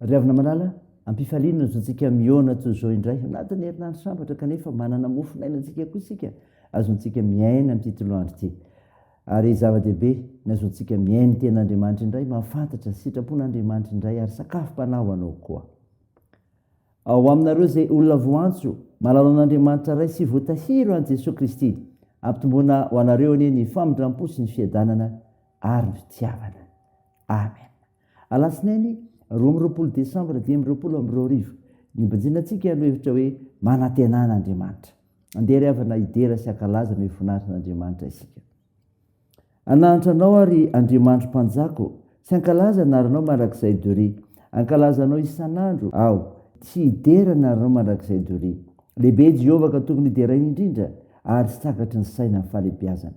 Ry havana malala, am-pifaliana no zontsika mihaona toy izao indray, anatin'ny herinandro sambatra kanefa manana mofon'aina antsika koa isika, azontsika miaina amin'ity toloandro ity. Ary zava-dehibe, ny azontsika mihaino ny Tenin'Andriamanitra indray, mahafantatra sitrapon'Andriamanitra indray ary sakafom-panahy ho anao koa. Ao aminareo izay olona voantso, mahalala an'Andriamanitra Ray sy voatahiry ho an'i Jesoa Kristy. Ampitomboina ho anareo anie ny famindram-po sy ny fiadanana ary ny fitiavana. Amen. Alatsinainy roa amby roapolo desambra dimy amby roapolo amby roa arivo, nibanjina antsika ny lohahevitra hoe Manantenana Andriamanitra. Andeha ry havana hidera sy hankalaza ny voninahitran'Andriamanitra isika. Hanahantra Anao aho ry Andriamanitro Mpanjako sy hankalaza ny anaranao mandrakizay doria. Hankalaza Anao isan'andro aho sy hidera ny anaranao mandrakizay doria. Lehibe i Jehovah ka tokony hideraina indrindra ary tsy takatry ny saina ny fahalehibiazany.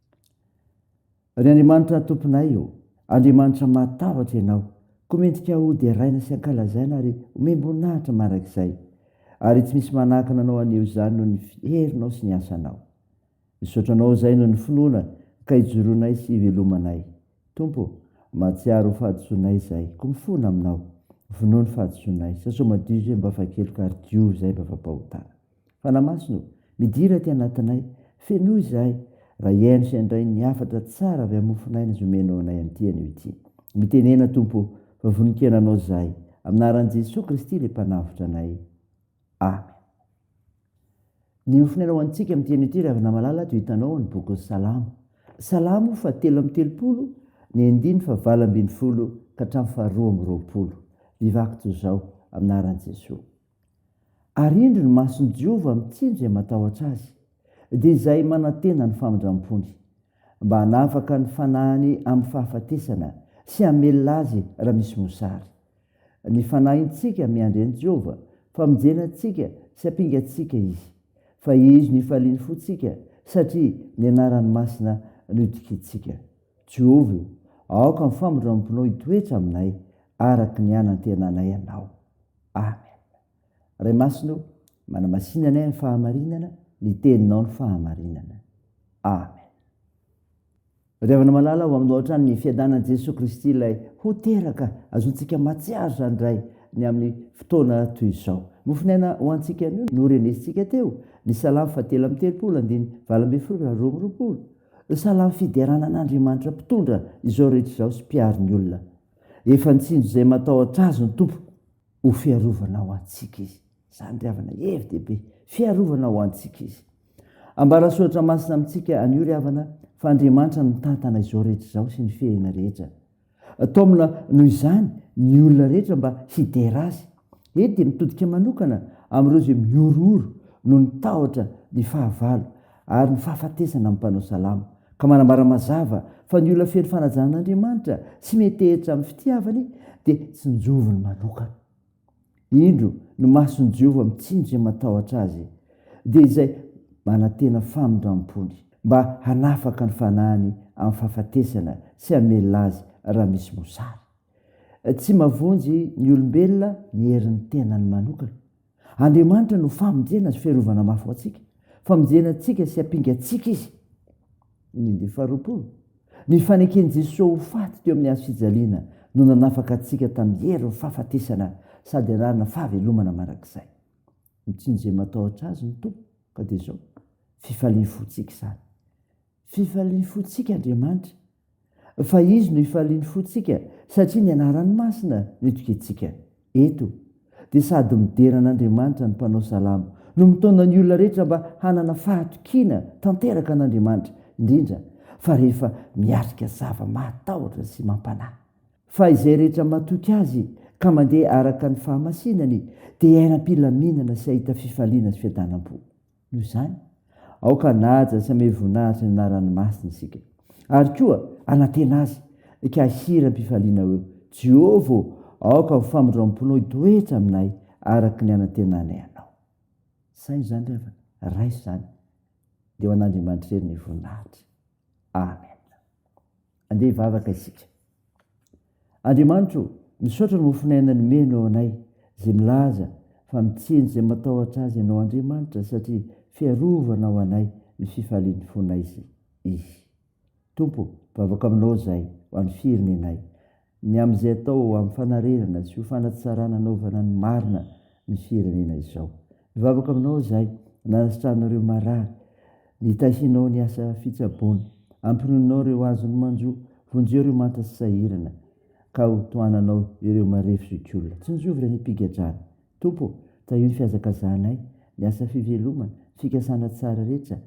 Ry Andriamanitra Tomponay ô, Andriamanitra mahatahotra Ianao, koa mendrika ho deraina sy ankalazaina ary omem-boninahitra mandrakizay, ary tsy misy manakana Anao haneho izany noho ny herinao sy ny asanao. Misaotra Anao izay noho ny finoana ka ijoroanay sy ivelomanay. Tompo ô, mahatsiaro ho fahadisoanay izay, koa mifona Aminao, vonoa ny fahadisoanay, sasao madio izay mba afa-keloka ary diovy izay mba afa-pahotana. Fanahy Masina ô, midira aty anatinay, fenoy izahay, raha hihaino sy handray ny hafatra tsara avy amin'ny mofon'aina izay omenao anay amin'ity anio ity. Mitenena, Tompo ô, fa vonon-kena Anao izahay. Amin'ny anaran'i Jesoa Kristy Ilay Mpanavotra anay. Amen. Ny mofon'aina ho antsika amin'ity anio ity, ry havana malala, ato hitanao ao ny bokin'ny Salamo. Salamo fahatelo amby telopolo, ny andininy fahavalo ambin'ny folo ka hatramin'ny faharoa amby roapolo. Vivako toy izao, amin'ny anaran'i Jesoa. Ary indro ny mason'i Jehovah mitsinjo izay matahotra azy, dia izay manantena ny famindram-pony, mba hanafaka ny fanahiny amin'ny fahafatesana sy hamelona azy raha misy mosary. Ny fanahintsika miandry an'i Jehovah, famonjena antsika sy hampingantsika izy. Fahizo ny hifalian'ny fontsika, satria ny anarany masina no itokiantsika. Jehovah ô, aoka ny famindram-ponao hitoetra aminay, araka ny hanantenanay anao. Amen Ray masina o manamasina anay amin'ny fahamarinana ny teninao ny fahamarinana Amen Ry havana malala ho aminao hatrany ny fiadanan'i Jesoa Kristy ilay ho teraka azontsika matsiaro izany Ray ny amin'ny fotoana toy izao mofonaina ho antsika anio no renesintsika teo ny salamo fa telo amin'ny telopolo andiny valo ambin'ny folo raha roa amby roapolo salamo fiderana an'Andriamanitra mpitondra izao rehetra izao sy mpiaro ny olona Efa nitsinjo izay matahotra Azy ny Tompo ho fiarovana ho antsika Izy. Izany ry havana, hevi dehibe, fiarovana ho antsika Izy. Ambara soratra masina amintsika anio ry havana fa Andriamanitra no mitantana izao rehetra izao sy ny fihena rehetra. Taomina noho izany ny olona rehetra mba hidera Azy. Eto dia mitodika manokana amin'ireo izay mihorohoro noho ny tahotra ny fahavalo ary ny fahafatesana amin'ny mpanao salamo, ka manambara mazava fa ny olona feno fanajan'Andriamanitra sy miantehitra amin'ny fitiavany dia tsinjoviny manokana. Indro ny mason'i Jehovah mitsinjo izay matahotra azy, dia izay manantena famindram-pony mba hanafaka ny fanahiny amin'ny fahafatesana sy hamelona azy raha misy mosary. Tsy mavonjy ny olombelona ny herin'ny tenany manokana. Andriamanitra no famonjena sy fiarovana mafy ho antsika. Famonjena antsika sy hampinga antsika Izy. Ny faharoapolo, ny faneken'i Jesoa ho faty teo amin'ny hazofijaliana no nanafaka antsika tamin'ny herin'ny fahafatesana sady anarana fahavelomana mandrakizay. Mitsinjo izay matahotra Azy ny Tompo, ka dia izao, fifalian'ny fontsika izany. Fifalian'ny fontsika Andriamanitra, fa Izy no ifalian'ny fontsika, satria ny Anarany Masina no itokiantsika. Eto, dia sady midera an'Andriamanitra ny mpanao salamo, no mitaona ny olona rehetra mba hanana fahatokiana tanteraka an'Andriamanitra, indrindra fa rehefa miatrika zava-mahatahotra sy mampanahy. Fa izay rehetra matoky Azy ka mandeha araka ny fahamasinany dia hiaina am-pilaminana sy hahita fifaliana sy fiadanam-po. Noho izany, aoka hanaja sy hamehy voninahitra ny anarany masina isika, ary koa hanantena azy ka hihira am-pifaliana hoe, Jehovah ô, aoka ho famindram-ponao hitoetra aminay araka ny hanantenanay anao. Saino izany ry havana, raiso izany, dia ho an'Andriamanitra irery ny voninahitra. Amen. Andeha hivavaka isika. Andriamanitro ô, misaotra ny mofon'aina nomenao anay, izay milaza fa mitseny izay matahotra azy ianao Andriamanitra satria fiarovana ho anay ny fifalian'ny fonay izy. Tompo, vavaka aminao izahay ho an'ny firenenay. ny amin'izay atao hampifanarenana sy ho fanatsarana anaovana ny marina ny firenena izao. Mivavaka aminao izahay, nanasitranao ireo marary, nitahianao ny asa fitsaboana, ampinoninao ireo azon'ny manjo, vonjeo ireo manta sy sahirana, ka ho tohananao ireo marefo zokiolona. Tsinjovy ireo nipigadrana. Tompo ô, tahio ny fihazakazahanay, ny asa fivelomana, ny fikasana tsara rehetra,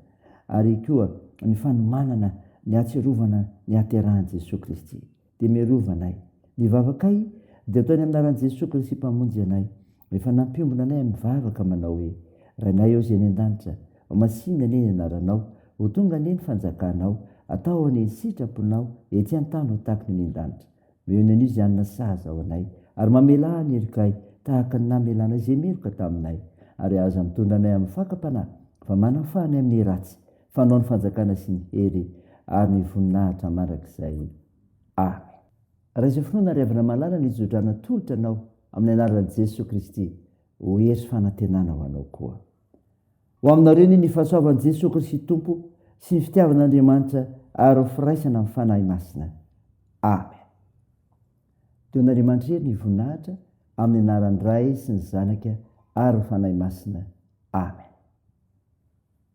ary koa ny fanomanana ny hatsiarovana ny haterahan'i Jesoa Kristy. dia miarova anay. Ny vavakay dia ataony amin'ny anaran'i Jesoa Kristy Mpamonjy anay, rehefa nampiombona anay amin'ny vavaka manao hoe, Rainay ao izay any an-danitra, ho masìna anie ny anaranao, ho tonga anie ny fanjakanao, atao anie ny sitraponao ety an-tany ho tahaka ny any an-danitra. Miheno an'io izany na sahaza ao anay, ary mamelà ny herikay tahaka ny namelanay izay meloka taminay, ary aza mitondra anay amin'ny fakam-panahy, fa manafaha anay amin'ny ratsy. Fanao ny fanjakana sy ny hery ary ny voninahitra mandrakizay. Amen. Raha izao finoana ry havana malala ny jodrana tolotra anao amin'ny anaran'i Jesoa Kristy ho hery sy fanantenana ho anao koa. Ho aminareo anie ny fahasoavan'i Jesoa Kristy Tompo sy ny fitiavan'Andriamanitra ary ny firaisana amin'ny Fanahy Masina. Amen. Don'Andriamanitra hery ny voninahitra amin'ny anaran'ny Ray sy ny Zanaka ary ny Fanahy Masina. Amen.